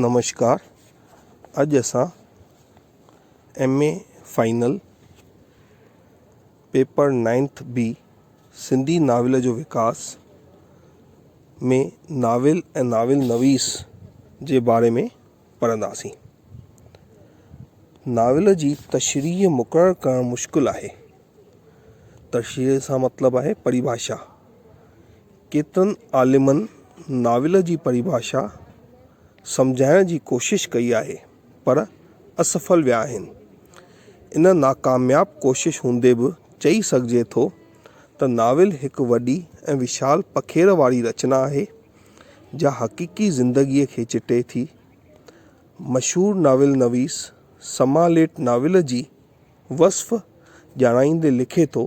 نمشڪار اڄ اسان M A final paper ninth B Sindhi novel جو وڪاس ۾ ناول ۽ ناول نويس جي باري ۾ پڙهنداسين ناول جي تشريح مقرر ڪرڻ مشڪل آهي تشريح سان مطلب آهي پريڀاشا ڪيترن عالمن ناول جي پريڀاشا سمجهائڻ جي ڪوشش ڪئي آهي پر اسفل ويا آهن. ان ناڪامياب ڪوشش هوندي به چئي سگهجي ٿو ته ناول هڪ وڏي ۽ وشال پکيڙ واري رچنا آهي جا حقيقي زندگيء کي چٽي ٿي. مشهور ناول نويس سما ليٽ ناول جي وصف ڄاڻائيندي لکي ٿو.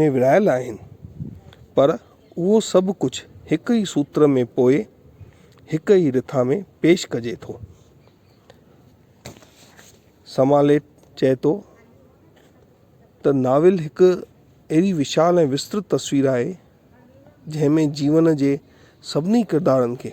۾ ورهايل آهن پر اهو سڀ ڪجهه هڪ ئي سوتر ۾ پوئي هڪ ئي رٿا ۾ پيش ڪجي ٿو. سماليٽ چئي ٿو ته ناول هڪ اهڙي وشال ۽ وسترت تصوير آهي جنهن ۾ جيون جي سڀني ڪردارن کي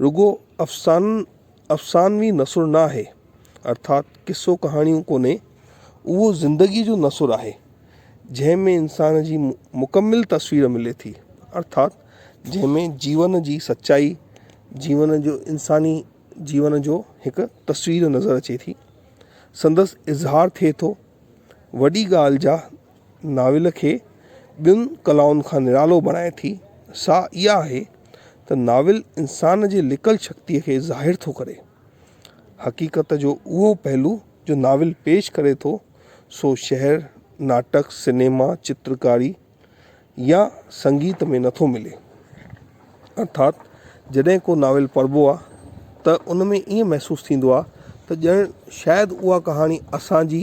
رڳو افسانن افسانوي نثر نه آهي، ارٿات قصو ڪهاڻيون ڪونهي، اهو زندگيء جو نثر آهي، جنهن ۾ انسان جي مڪمل تصوير ملي ٿي، ارٿات جنهن ۾ جيون جي سچائي، جيون جو انساني جيون جو هڪ تصوير نظر اچي ٿي، سندس اظهار ٿئي ٿو، وڏي ڳالهه جا ناول کي ٻين ڪلائن کان نرالو بڻائي ٿي، سا اها آهي ته ناول انسان جي لڪل شڪتيء کي ظاهر ٿو ڪري. حقيقت جو اهو پهلو جو ناول پيش ڪري ٿو، سو شعر، ناٽڪ، سئنيما، چترڪاري يا سنگيت ۾ نه ٿو ملي. ارٿات جڏهن ڪو ناول پڙهبو آهي ته ان ۾ ائين محسوس ٿيندو آهي ته ڄڻ شايد اها ڪهاڻي اسان جي،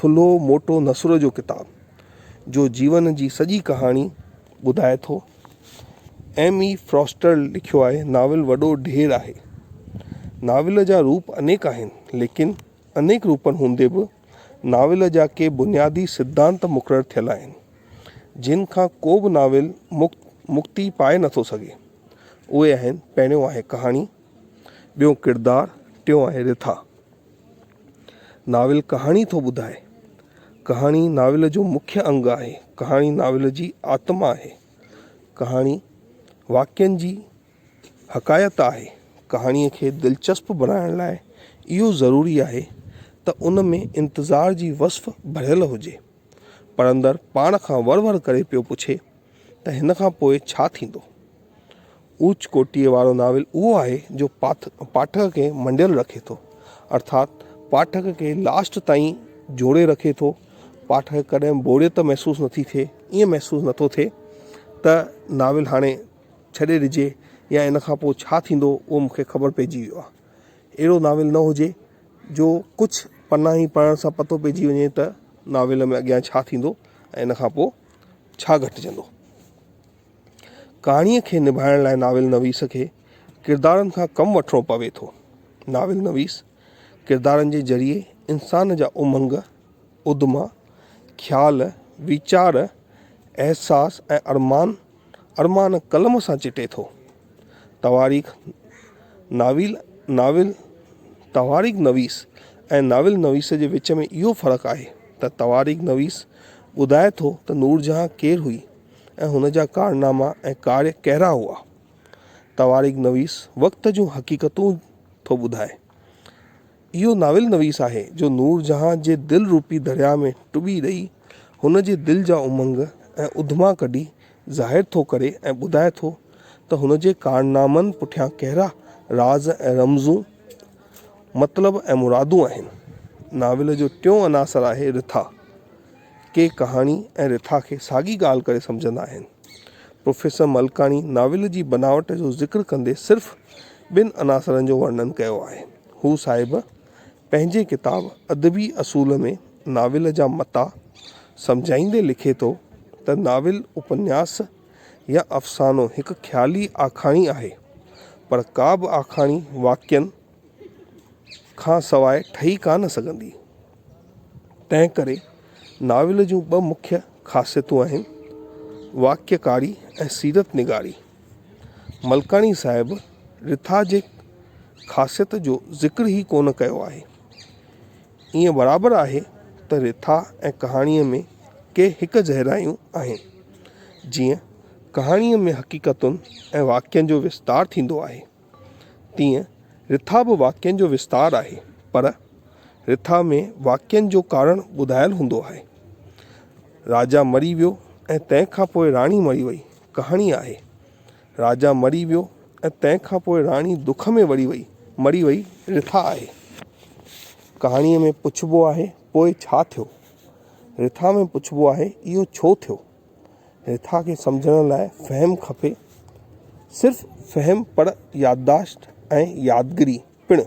ٿلهو موٽو نثر جو ڪتاب جو جيون جي سڄي ڪهاڻي ٻڌائي ٿو. ايم اي فراسٽر لکيو آهي ناول وڏو ڍير آهي. ناول جا روپ انيڪ آهن ليڪن انيڪ روپن هوندي به ناول جا ڪي بنيادي سڌانت مقرر ٿيل آهن جن کان ڪو به ناول مڪتي پائي نٿو سگهي. اهي آهن پهريون آهي ڪهاڻي، ٻيون ڪردار، ٽيون آهي رٿا. ناول ڪهاڻي ٿو ٻڌائي. ڪهاڻي ناول جو مکيه انگ آهي. ڪهاڻي ناول جي آتما آهي. ڪهاڻي واقعن جي حڪايت آهي. ڪهاڻيء کي دلچسپ بڻائڻ لاء اهو ضروري آهي ته ان ۾ انتظار جي وصف ڀريل هجي. پڙهندڙ پاڻ کان ور ور ڪري پيو پڇي ته هن کان پوء ڇا ٿيندو؟ اوچ ڪوٽيء وارو ناول اهو آهي جو پاٺڪ کي منڊيل رکي ٿو، ارٿات پاٺڪ کي لاسٽ تائين جوڙي رکي ٿو، پاٺڪ کي ڪڏهن بوريت محسوس نه ٿي ٿئي، ائين محسوس نه ٿو ٿئي ته ناول هاڻي ڇڏي ڏجي يا ان کان پوء ڇا ٿيندو اهو مون کي خبر پئجي ويو آهي. اهڙو ناول نه هجي جو ڪجهه پنا ئي پڙهڻ سان پتو پئجي وڃي ته ناول ۾ اڳيان ڇا ٿيندو ۽ ان کان پوء ڇا گهٽجندو. ڪهاڻيء کي نڀائڻ لاء ناول نويس کي ڪردارن کان ڪم وٺڻو پوي ٿو. ناول نويس ڪردارن جي ذريعي انسان جا امنگ، ادما، خيال، ويچار، احساس ۽ ارمان ارمان قلم سان چٽي ٿو. تواريخ ناول ناول تواريخ نويس ۽ ناول نويس جي وچ ۾ اهو فرق آهي ته تواريخ نويس ٻڌائي ٿو ته نورجهان ڪير هئي؟ ۽ هن جا ڪارناما ۽ ڪاريه ڪهڙا هئا؟ تواريخ نويس وقت جون حقيقتون ٿو ٻڌائي. اهو ناول نويس آهي جو نور جهان جي دل روپي درياء ۾ ٽٻي ڏئي هن جي دل جا امنگ ۽ اڌما ڪڍي ظاهر ٿو ڪري ۽ ٻڌائي ٿو ته هن جي ڪارنامن پٺيان ڪهڙا راز ۽ رمزون مطلب ۽ مرادون آهن. ناول جو ٽيون عناصر آهي رٿا. ڪي ڪهاڻي ۽ رٿا کي ساڳي ڳالهه ڪري سمجهندا آهن. پروفيسر ملڪاڻي ناول جي بناوٽ جو ذڪر ڪندي صرف ٻن عناصرن جو ورنن ڪيو آهي. هو صاحب پنهنجي ڪتاب ادبي اصول ۾ ناول جا متا سمجهائيندي لکي ٿو ته ناول اپنياس يا افسانو هڪ خيالي آکاڻي آهي پر ڪا به آکاڻي واقعن کان سواء ٺهي ڪانه سگهندي. تنهن ڪري ناول جون ٻه مکيه خاصيتون آهن، واقعڪاري ۽ سيرت نگاري. ملڪاڻي صاحب رٿا جي خاصيت جو ذڪر ئي ڪونه ڪيو آهي. ائين برابر آهي ته رٿا ۽ ڪهاڻيء ۾ ڪي هڪ جهڙايون آهن. جيئن ڪهاڻيء ۾ حقيقتن ۽ واقعن جو وستار ٿيندو آهي. تيئن رٿا به واقعن جو وستار آهي، پر رٿا ۾ واقعن جو ڪارڻ ٻڌايل هوندو آهي. راجا مري ويو ۽ تنهن کان پوء راڻي مري وئي، ڪهاڻي آهي، راجا مري ويو ۽ تنهن کان پوء راڻي دک ۾ وري وئي، مري وئي، رٿا آهي. ڪهاڻيء ۾ پڇبو آهي، پوء ڇا ٿيو؟ رٿا ۾ پڇبو آهي، اهو ڇو ٿيو؟ رٿا کي سمجهڻ لاء فهم کپي، صرف فهم پر يادداشت ۽ يادگري پڻ.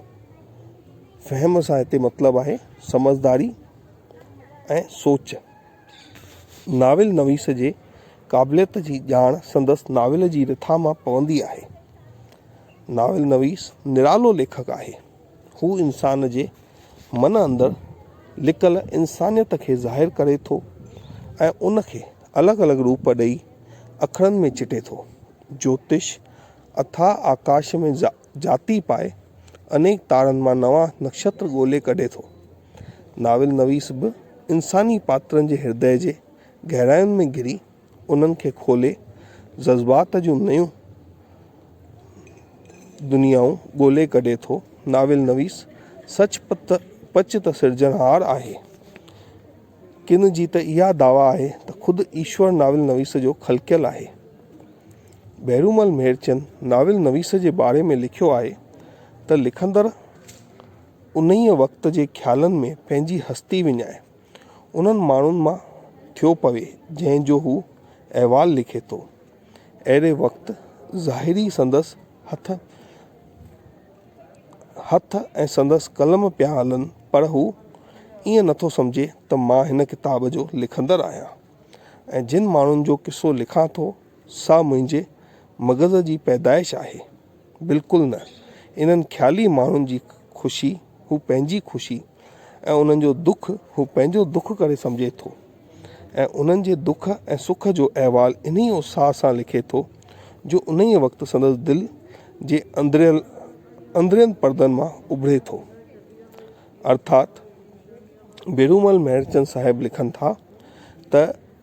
فهم سان هتي مطلب آهي سمجهداري ۽ سوچ. ناول نويس جي قابليت جي ڄاڻ سندس ناول جي رٿا مان پوندي آهي. ناول نويس نرالو ليکڪ آهي. هو انسان جي من اندر لڪل انسانيت کي ظاهر ڪري ٿو ۽ ان کي الڳ الڳ روپ ڏئي اکرن ۾ چٽي ٿو. جوتش اٿاهه آڪاش ۾ جاتي پائي انيڪ تارن مان نوان نڪشتر ڳولي ڪڍي ٿو. ناول نويس به انساني پاترن جي هردئه جي گهراين ۾ گهري انهن کي کولي جذبات جون نيون دنيائون ڳولي ڪڍي ٿو. ناول نويس سچ پچ ته سرجڻهار آهي. ڪن جي ته اها دعويٰ آهي ته خود ايشور ناول نويس جو خلقيل آهي. ڀيرومل ميرچند ناول نويس جي باري ۾ لکيو آهي ته لکندڙ انهيء وقت جي خيالن ۾ پنهنجي هستي وڃائي، انهن ماڻهن مان ٿيو پوي جنهن جو هو احوال لکي ٿو. اهڙي وقت ظاهر ئي سندس هٿ هٿ ۽ سندس قلم پيا هلن پر هو ائين نٿو سمجهي ته مان هن ڪتاب جو لکندڙ آهيان ۽ جن ماڻهن جو قصو لکان ٿو سا منهنجي مغز جي پيدائش آهي. بلڪل نه، انهن خيالي ماڻهن جي خوشي هو پنهنجي خوشي ۽ انهن جو دک هو پنهنجو دک ڪري سمجهي ٿو ۽ انهن جي دک ۽ سک جو احوال انهيء اتساهه سان لکي ٿو جو انهيء وقت سندس دل جي اندريل اندرين پردن مان اڀري ٿو. ارٿات ڀيرومل مهرچند صاحب لکن ٿا ته.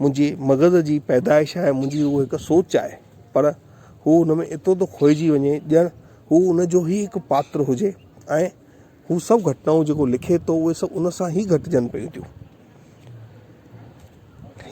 منهنجي مغز جي پيدائش آهي، منهنجي اهو هڪ سوچ آهي، پر هو ان ۾ ايترو ٿو کوئجي وڃي ڄڻ هو ان جو ئي هڪ پاتر هجي ۽ هو سڀ گهٽنائون جيڪو لکي ٿو اهي سڀ ان سان ئي گهٽجن پيون ٿيون.